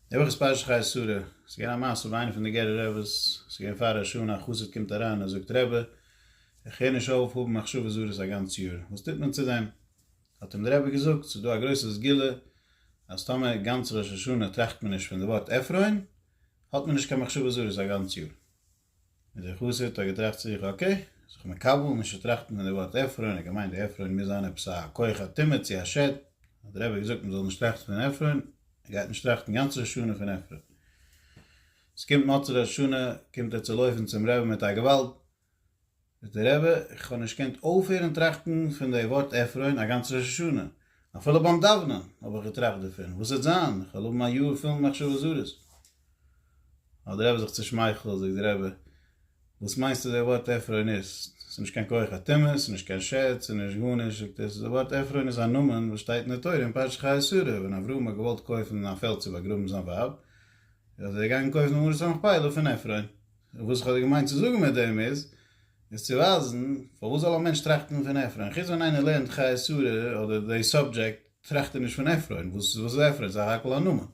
די וואך איז פרשת חיי שרה, ס'איז געווען א מעשה ביי איינע פון די גערער רעבעס, ס'איז געווען פאר ראש השנה, א חסיד קומט אריין און זאגט רבי, איך קען נישט אויף האבן מחשבות זרות א גאנץ יאר, וואס טוט מען צו דעם? האט אים די רבי געזאגט, ס'איז דא א גרויסע סגולה, אז טאמער גאנץ ראש השנה טראכט מען נישט פון די ווארט עפרון, האט מען נישט קיין מחשבות זרות א גאנץ יאר. און דער חסיד האט געטראכט צו זיך אקעי, זיך מקבל, נישט צו טראכטן פון די ווארט עפרון, ער האט געמיינט די עפרון מוז זיין עפעס א כח א טומאה צו א שד, האט דער רבי געזאגט מען זאל נישט טראכטן פון עפרון, ער גייט נישט טראכטן גאנץ ראש השנה פון עפרון. עס קומט מוצאי ראש השנה קומט ער צו לויפן צום רבי מיט א געוואלד, זאגט דער רבי, איך האב נישט געקענט אויפהערן טראכטן פון די ווארט עפרון א גאנץ ראש השנה, אפילו ביים דאוונען האב איך געטראכט דערפון, וואס וועט זיין, איך וועל האבן א יאר פול מחשבות זרות. האט דער רבי זיך צושמייכלט, זאגט דער רבי, וואס מיינסטו די ווארט עפרון איז? ס'איז נישט קיין כח הטומאה, ס'איז נישט קיין שד, ס'איז נישט גארנישט, זאגט ער, ס'איז די ווארט עפרון איז א נאמען וואס שטייט אין די תורה אין פרשת חיי שרה, ווען אברהם האט געוואלט קויפן א פעלד צו באגראבן זיין ווייב, איז ער געגאנגען קויפן די מערת המכפלה פון עפרון. און וואס איך האב דיר געמיינט צו זאגן מיט דעם איז, איז צו ווייזן פארוואס זאל א מענטש טראכטן פון עפרון, חוץ ווען איינער לערנט חיי שרה אדער די סאבדזשעקט טראכט ער נישט פון עפרון, וואס איז עפרון? סך הכל א נאמען.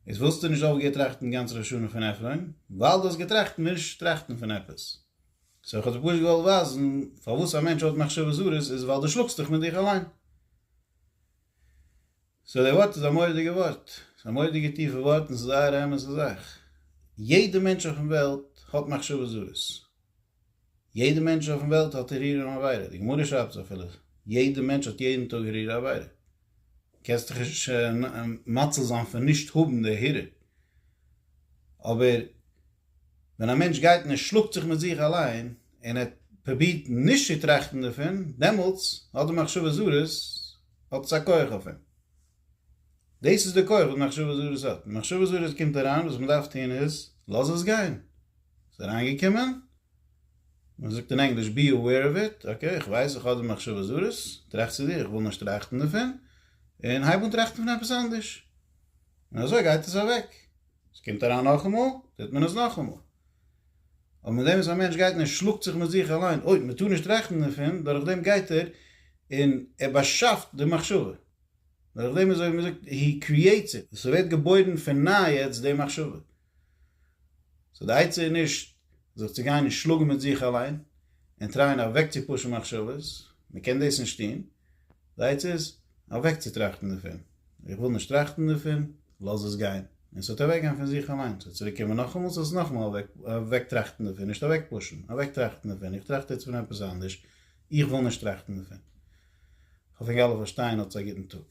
איז וואלסטו נישט אויך געטראכטן גאנץ ראש השנה פון עפרון, ווייל דו האסט געטראכט נישט טראכטן פון עפעס. סאו איך האב דיר פשוט געוואלט ווייזן, פארוואס א מענטש האט מחשבות זרות איז ווייל דו שלאגסט דיך מיט דיך אליין. סאו די ווארט איז א מורא'דיגע ווארט, ס'איז א מורא'דיגע טיפע ווארט און ס'איז זייער א אמת'ע זאך. יעדע מענטש אויפן וועלט האט מחשבות זרות. יעדע מענטש אויפן וועלט האט ארירים עבירה. די גמרא שרייבט עס אפילו, יעדע מענטש האט יעדן טאג ארירי עבירה. קענסט דיך נישט מציל זיין פון נישט האבן די ארירי. אבער. ווען א מענטש גייט און ער שלאגט זיך מיט זיך אליין, און ער פרובירט נישט צו טראכטן דערפון, דעמאלטס האט די מחשבות זרות, האט עס א כח אויף אים. דאס איז די כח וואס מחשבות זרות האט. ווען מחשבות זרות קומט אריין, וואס מען דארף טון איז, לאז עס גיין. ס'איז אריינגעקומען, מען זאגט אין ענגליש, בי אוועיר אוו איט, אקעי, איך ווייס איך האב די מחשבות זרות, טראכט צו דיר, איך וויל נישט טראכטן דערפון, און הייב אן טראכטן פון עפעס אנדערש. און אזוי גייט עס אוועק. עס קומט אריין נאכאמאל, טוט מען עס נאכאמאל. אבער מיט דעם וואס א מענטש גייט און ער שלאגט זיך מיט זיך אליין, אוי, מען טאר נישט טראכטן דערפון, דורך דעם גייט ער און ער באשאפט די מחשבה. דורך דעם איז אזוי ווי מען זאגט, הי קריעטס איט, עס ווערט געבוירן פון ניי יעצט די מחשבה. סאו די עצה איז נישט זיך צו גיין און שלאגן מיט זיך אליין, און טרייען אוועקצופושן מחשבות, מען קען דאס נישט טון, זייטס איז אוועקצוטראכטן דערפון. איך וויל נישט טראכטן דערפון, לאז עס גיין. און ס'וועט אוועקגיין פון זיך אליין. ס'וועט צוריקקומען נאכאמאל, זאלסט עס נאכאמאל אוועקטראכטן דערפון. נישט אוועקפושן, אוועקטראכטן דערפון. איך טראכט יעצט פון עפעס אנדערש. איך וויל נישט טראכטן דערפון. כ'האף ענק אלע פארשטייען. האטס א גוטן טאג.